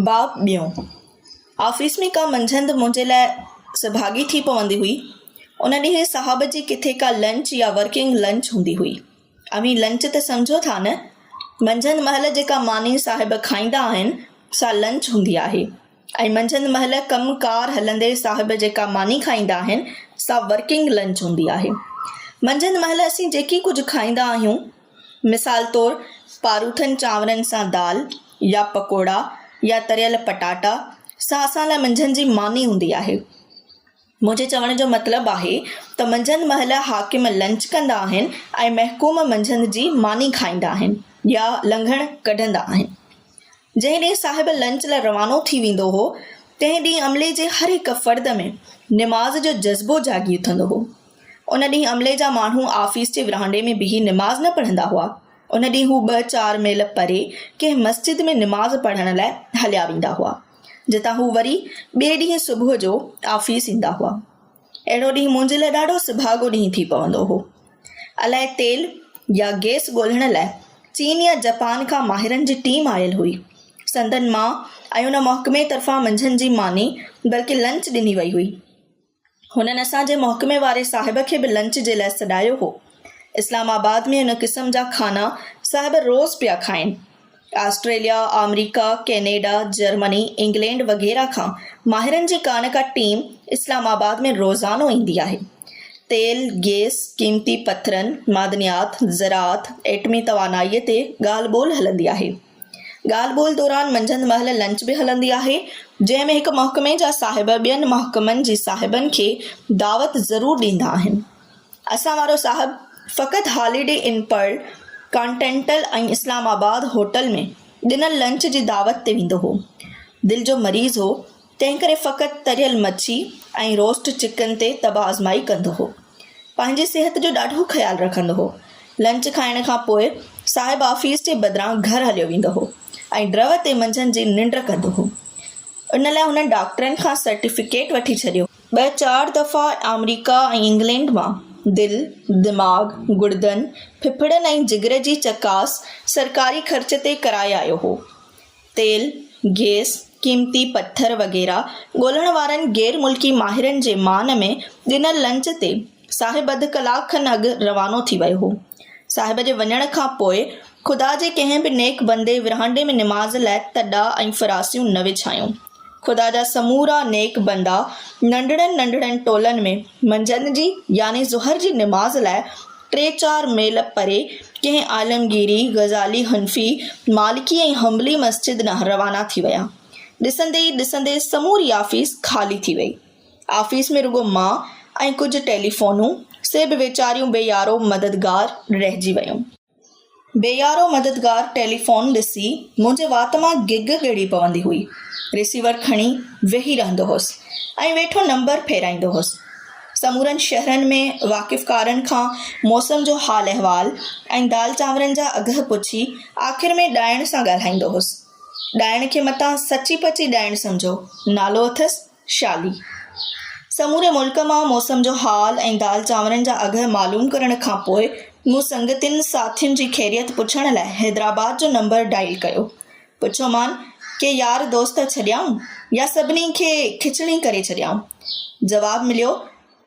باب ٻيون، آفيس ۾ ڪا منجهند منهنجي لاء سڀاڳي ٿي پوندي هئي. ان ڏينهن صاحب جي ڪٿي ڪا لنچ يا ورڪنگ لنچ هوندي هئي. اوهين لنچ ته سمجهو ٿا نه؟ منجهند مهل جيڪا ماني صاحب کائيندا آهن، سا لنچ هوندي آهي ۽ منجهند مهل ڪم ڪار هلندي صاحب جيڪا ماني کائيندا آهن، سا ورڪنگ لنچ هوندي آهي. منجهند مهل اسين جيڪي ڪجهه کائيندا آهيون، مثال طور پاروٿن چانورن سان دال يا پڪوڙا يا تريل پٽاٽا سان اسان لاء منجهند جي ماني هوندي آهي. منهنجي چوڻ جو مطلب آهي ته منجهند مهل حاڪم لنچ ڪندا آهن ۽ محڪوم منجهند جي ماني کائيندا آهن يا لنگهڻ ڪڍندا آهن. جنهن ڏينهن صاحب لنچ لاء روانو ٿي ويندو هو، تنهن ڏينهن عملي جي هر هڪ فرد ۾ نماز جو جذبو جاڳي اٿندو هو. ان ڏينهن عملي جا ماڻهو آفيس جي ورهانڊي ۾ بيهي نماز نه پڙهندا هئا. ان ڏينهن هو ٻه چار ميل پري ڪنهن مسجد ۾ نماز پڙهڻ لاء هليا ويندا هئا، جتان هو وري ٻئي ڏينهن صبح جو آفيس ايندا هئا. اهڙو ڏينهن منهنجي لاء ڏاڍو سڀاڳو ڏينهن ٿي پوندو هو. الائي تيل يا گئس ڳولڻ لاء چين يا جپان کان ماهرن جي ٽيم آيل هئي. سندن مان ۽ ان محڪمي طرفان منجهند جي ماني بلڪه لنچ ڏني وئي هئي. هنن اسان جي محڪمي واري صاحب کي به لنچ جي لاء سڏايو هو. اسلام آباد ۾ ان قسم جا کانا صاحب روز پيا کائين. آسٽريليا، آمريڪا، ڪينيڊا، جرمني، انگلينڊ وغيره کان ماهرن جي ڪا نه ڪا ٽيم اسلام آباد ۾ روزانو ايندي آهي. تيل، گيس، قيمتي پٿرن، معدنيات، زراعت، ايٽمي توانائيء تي ڳالهه ٻولهه هلندي آهي. ڳالهه ٻولهه دوران منجهند مهل لنچ به هلندي آهي، جنهن ۾ هڪ محڪمي جا صاحب ٻين محڪمن جي صاحبن کي دعوت ضرور ڏيندا آهن. اسان وارو صاحب فقط هاليڊي ان پرل ڪانٽينٽل ۽ اسلام آباد هوٽل ۾ ڏنل لنچ جي دعوت تي ويندو هو. دل جو مريض هو، تنهنڪري فقط تريل مڇي ۽ روسٽ چڪن تي طبع آزمائي ڪندو هو. پنهنجي صحت جو ڏاڍو خيال رکندو هو. لنچ کائڻ کان پوء صاحب آفيس جي بدران گهر هليو ويندو هو ۽ ڊرئو تي منجهند جي ننڊ ڪندو هو. ان لاء هن ڊاڪٽرن کان سرٽيفڪيٽ وٺي ڇڏيو. ٻه چار دفعا آمريڪا ۽ انگلينڊ مان دل، دماغ، گڙدن، ڦڦڙن ۽ جگر جي چڪاس سرڪاري خرچ تي ڪرائي آيو هو. تيل، گيس، قيمتي پٿر وغيره ڳولڻ وارن غير ملڪي ماهرن جي مان ۾ ڏنل لنچ تي صاحب اڌ ڪلاڪ کن اڳ روانو ٿي ويو هو. صاحب جي وڃڻ کان پوء خدا جي ڪنهن به نيڪ بندي ورهاندي ۾ نماز لاء تڏا ۽ فراسيون نه وڇايون. خدا جا سمورا نيڪ بندا ننڍڙن ننڍڙن ٽولن ۾ منجهند جي يعني ظهر جي نماز لاء ٽي چار ميل پري ڪنهن عالمگيري، غزالي، حنفي، مالڪي ۽ حنبلي مسجد ڏانهن روانا ٿي ويا. ڏسندي ئي ڏسندي سموري آفيس خالي ٿي ويئي. آفيس ۾ رڳو مان ۽ ڪجهه ٽيليفونون، سي به ويچاريون بي يارو مددگار رهجي ويون. بي يارو مددگار ٽيليفون ڏسي منهنجي وات مان گگ ڳڙي پوندي هئي. رسيور کڻي ويهي رهندو هوس ۽ ويٺو نمبر ڦيرائيندو هوس. سمورن شهرن ۾ واقفڪارن کان موسم جو حال احوال ۽ دال چانورن جا اگهه پڇي آخر ۾ ڏائڻ سان ڳالهائيندو هوس. ڏائڻ کي متان سچي پچي ڏائڻ سمجهو، نالو اٿس؟ شالي، سموري ملڪ مان موسم جو حال ۽ دال چانورن جا اگهه معلوم ڪرڻ کان پوء مون سنگتين ساٿين جي خيريت پڇڻ لاء حيدرآباد جو نمبر ڊائل ڪيو. پڇيومان، ڪي يار دوست ڇڏيائون يا سڀني کي کچڻي ڪري ڇڏيائون؟ جواب مليو،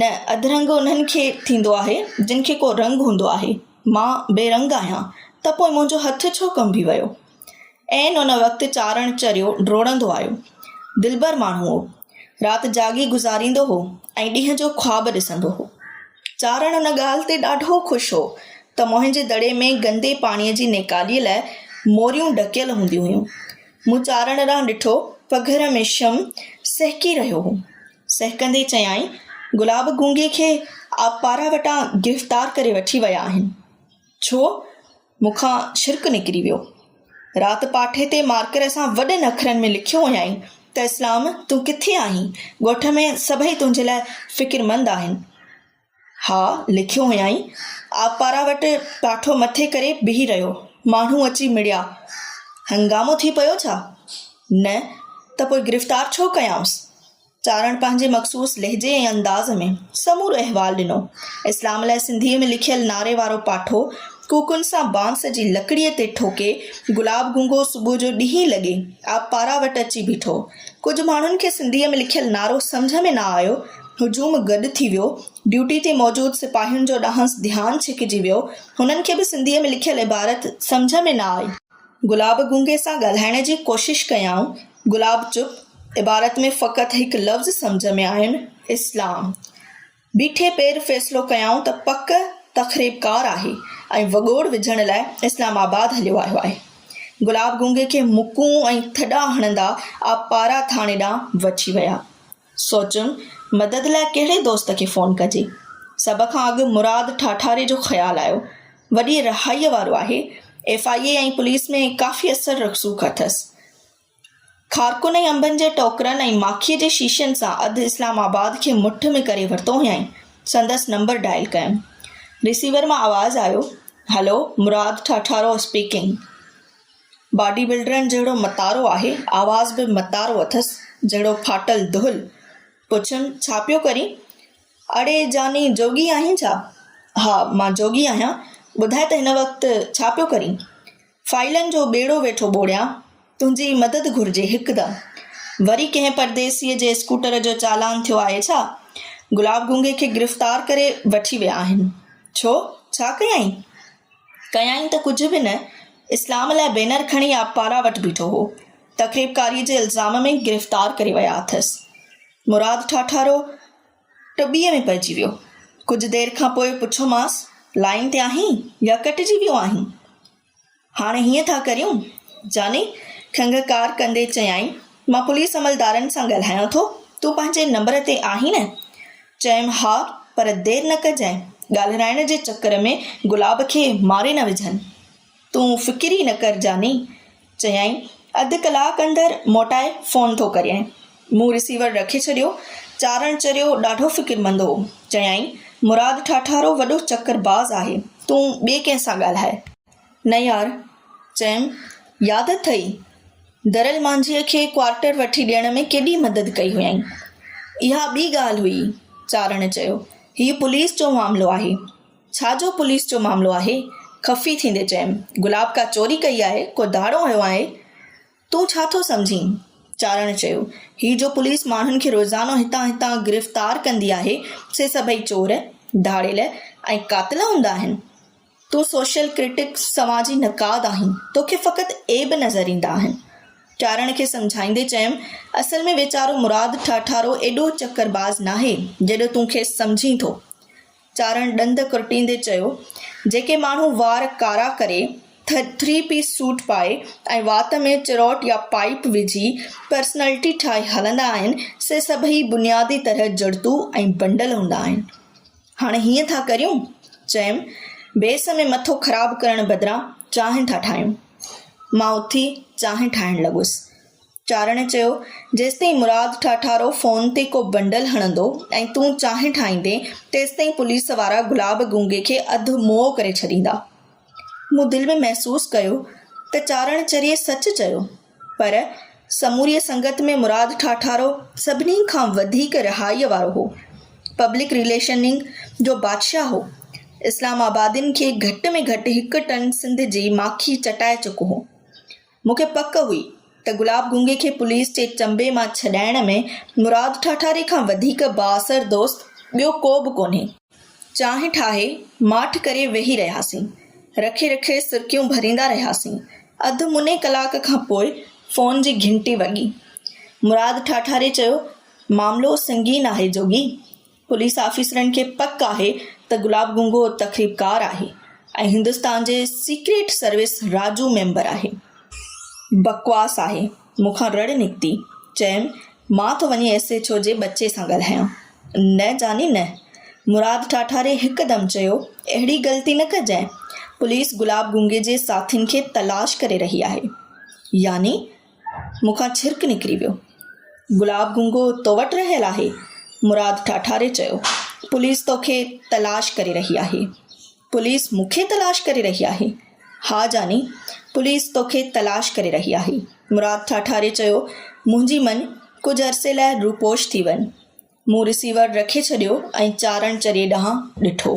نه اڌرنگ انهن کي ٿيندو آهي، جن کي ڪو رنگ هوندو آهي. مان بي رنگ آهيان، ته پوء منهنجو هٿ ڇو ڪنبي ويو؟ عين ان وقت چارڻ چريو ڊوڙندو آيو. دلبر ماڻهو هو. رات جاڳي گذاريندو هو ۽ ڏينهن جو خواب ڏسندو هو. چارڻ ان ڳالهه تي ڏاڍو خوش هو ته موهنجي دڙي ۾ گندي پاڻيء جي نيڪاليء لاء موريون ڍڪيل هونديون هيون. مون چارڻ ڏانهن ڏٺو، پگهر ۾ شم سهڪي رهيو هو. سهڪندي چيائين، گلاب گونگي کي آبپارا وٽان گرفتار ڪري وٺي ويا آهن. ڇو؟ مون کان ڇرڪ نڪري ويو. رات پاٺي تي مارڪر سان وڏن اکرن ۾ لکيو هيائين ته اسلام تون ڪٿي آهين؟ ڳوٺ ۾ سڀئي تنهنجي لاء فڪرمند آهن. ها، لکيو هيائين. آبپارا وٽ پاٺو مٿي ڪري بيهي رهيو. ماڻهو اچي مڙيا. هنگامو ٿي پيو ڇا؟ نه ته پوء گرفتار ڇو ڪيائونس؟ چارڻ پنهنجي مخصوص لهجي ۽ انداز ۾ سمورو احوال ڏنو. اسلام لاء سنڌيء ۾ لکيل نعري وارو پاٺو ڪوڪن سان بانس جي لڪڙيء تي ٺوڪي گلاب گونگو صبح جو ڏهين لڳي آبپارا وٽ اچي بيٺو. ڪجهه ماڻهن کي سنڌيء ۾ لکيل نعرو سمجهه ۾ نه آيو. هجوم گڏ ٿي ويو. ڊيوٽي تي موجود سپاهين جو ڏانهنس ڌيان ڇڪجي ويو. هنن کي به سنڌيء ۾ لکيل عبارت سمجهه ۾ نه آئي. گلاب گونگي سان ڳالهائڻ جي ڪوشش ڪيائون. گلاب چپ. عبارت ۾ فقط هڪ لفظ سمجهه ۾ آين، اسلام. بيٺي پير فيصلو ڪيائون ته پڪ تخريبڪار آهي ۽ وڳوڙ وجهڻ لاء اسلام آباد هليو آيو آهي. گلاب گونگي کي مڪون ۽ ٿڏا هڻندا آبپارا ٿاڻي ڏانهن وٺي ويا. سوچيم مدد لاء ڪهڙي دوست کي فون ڪجي. سڀ کان اڳ مراد ٺاٺاري جو خيال آيو. وڏي رهائيء وارو آهي. ايف آء اي ۽ پوليس ۾ ڪافي اثر رسوخ اٿس. خارڪن ۽ انبن جي ٽوڪرن ۽ ماکيء جي شيشن سان اڌ اسلام آباد کي مٺ ۾ ڪري ورتو هيائين. سندس نمبر ڊائل ڪيم. رسيور مان آواز آيو، hello, Murad Thatharo speaking. Body بلڊرن جهڙو متارو آهي، آواز به متارو اٿس، جهڙو ڦاٽل دهل. پڇيم، ڇا پيو ڪرين؟ اڙي جاني جوڳي آهين ڇا؟ ها، مان جوڳي آهيان، ٻڌاء ته هن وقت ڇا پيو ڪرين؟ فائلن جو ٻيڙو ويٺو ٻوڙيان، تنهنجي مدد گهرجي هڪدم. وري ڪنهن پرديسيء جي اسڪوٽر جو چالان ٿيو آهي ڇا؟ گلاب گونگي کي گرفتار ڪري وٺي ويا آهن. ڇو؟ ڇا ڪيائين؟ ڪيائين ته ڪجهه به نه، اسلام لاء بينر کڻي آبپارا وٽ بيٺو هو. تخريبڪاريء جي الزام ۾ گرفتار ڪري ويا اٿس. مراد ٺاٺارو، ٽٻيء ۾ پئجي ويو. ڪجهه دير کان پوء پڇيومانس، لائين تي آهين يا ڪٽجي ويو آهين؟ هاڻي هيئن ٿا ڪريون، جاني کنگهڪار ڪندي چيائين، مان پوليس عملدارن سان ڳالهايان ٿو، تون پنهنجي نمبر تي آهين نه؟ چيم، ها، پر دير نه ڪجانء، ڳالهرائڻ جي چڪر ۾ گلاب کي ماري نه وجهن. تون فڪر ئي نه ڪر جاني. چيائين، اڌ ڪلاڪ اندر موٽائي فون ٿو ڪريانء. مون رسيور رکي ڇڏيو. چارڻ چريو ڏاڍو فڪرمند هو. چيائين، مراد ٺاٺارو وڏو چڪر باز آهي. تون ٻئي ڪنهن سان ڳالهاء. نه يار. چيم، ياد اٿئي؟ درل مانجهيء کي ڪوارٽر وٺي ڏيڻ ۾ ڪيڏي مدد ڪئي هيائين. اها ٻي ڳالهه هئي. چارڻ چيو، هي پوليس جو معاملو آهي. ڇا جو پوليس جو معاملو آهي. خفي ٿيندي چيم، گلاب ڪا چوري ڪئي آهي، ڪو ڌاڙو هنيو آهي؟ تون ڇا ٿو سمجهين؟ چارڻ چيو، هي جو پوليس ماڻهن کي روزانو هتان هتان گرفتار ڪندي آهي، سي سڀئي چور، ڌاڙيل ۽ قاتل هوندا آهن؟ تون سوشل ڪرٽڪ، سماجي نقاد، آهين، توکي فقط عيب نظر ايندا آهن. چارڻ کي سمجهائيندي چيم، اصل ۾ ويچارو مراد ٺاٺارو ايڏو چڪر باز ناهي، جيڏو تون کيس سمجهين ٿو. چارڻ ڏند ڪرٽيندي چيو، جيڪي ماڻهو وار ڪارا ڪري، ٿري پيس سوٽ پائي ۽ وات ۾ چروٽ يا پائيپ وجهي پرسنالٽي ٺاهي هلندا آهن، سي سڀئي بنيادي طرح جڙتو ۽ بنڊل هوندا آهن. هاڻي هيئن ٿا ڪريون؟ چيم، بيس ۾ مٿو خراب ڪرڻ بدران چانهه ٿا ٺاهيون. مان اٿي چانهه ٺاهڻ لڳس. چارڻي چيو، جيستائين مراد ٺاٺارو فون تي ڪو بنڊل هڻندو ۽ تون چانهه ٺاهيندين، تيستائين پوليس وارا گلاب گونگي کي اڌ موئو ڪري ڇڏيندا. مون دل ۾ محسوس ڪيو ته چارڻ چريي سچ چيو، پر سموريء سنگت ۾ مراد ٺاٺارو سڀني کان وڌيڪ رهائيء وارو هو. پبلڪ رليشننگ جو بادشاهه هو. اسلام آبادين کي گهٽ ۾ گهٽ هڪ ٽن سنڌ جي ماکي چٽائي چڪو هو. مون کي پڪ هئي ته گلاب گونگي کي پوليس جي چنبي مان ڇڏائڻ ۾ مراد ٺاٺاري کان وڌيڪ بااثر دوست ٻيو ڪو به ڪونهي. چانهه ٺاهي، ماٺ ڪري ويهي رهياسين. رکي رکي سرڪيون ڀريندا رهياسين. اڌ مني ڪلاڪ کان پوء فون جي گهنٽي وڳي. مراد ٺاٺاري چيو، معاملو سنگين آهي جوڳي. پوليس آفيسرن کي پڪ آهي ته گلاب گونگو تخريبڪار آهي ۽ هندستان جي سيڪريٽ سروس راجو ميمبر آهي. بڪواس آهي. مون کان رڙ نڪتي. چيم، مان ٿو وڃي ايس ايڇ او جي ٻچي سان ڳالهايان. نه جاني نه. مراد ٺاٺاري هڪدم چيو، اهڙي غلطي نه ڪجانء. پوليس گلاب گونگي جي ساٿين کي تلاش ڪري رهي آهي. يعني؟ مون کان ڇرڪ نڪري ويو. گلاب گونگو تو وٽ رهيل آهي؟ مراد ٺاٺاري چيو، پوليس توکي تلاش ڪري رهي آهي. پوليس مون کي تلاش ڪري رهي آهي؟ ها جاني، پوليس توکي تلاش ڪري رهي آهي. مراد ٺاٺاري چيو، منهنجي مڃ، ڪجهه عرصي لاء روپوش ٿي وڃ. مون رسيور رکي ڇڏيو ۽ چارڻ چريي ڏانهن ڏٺو.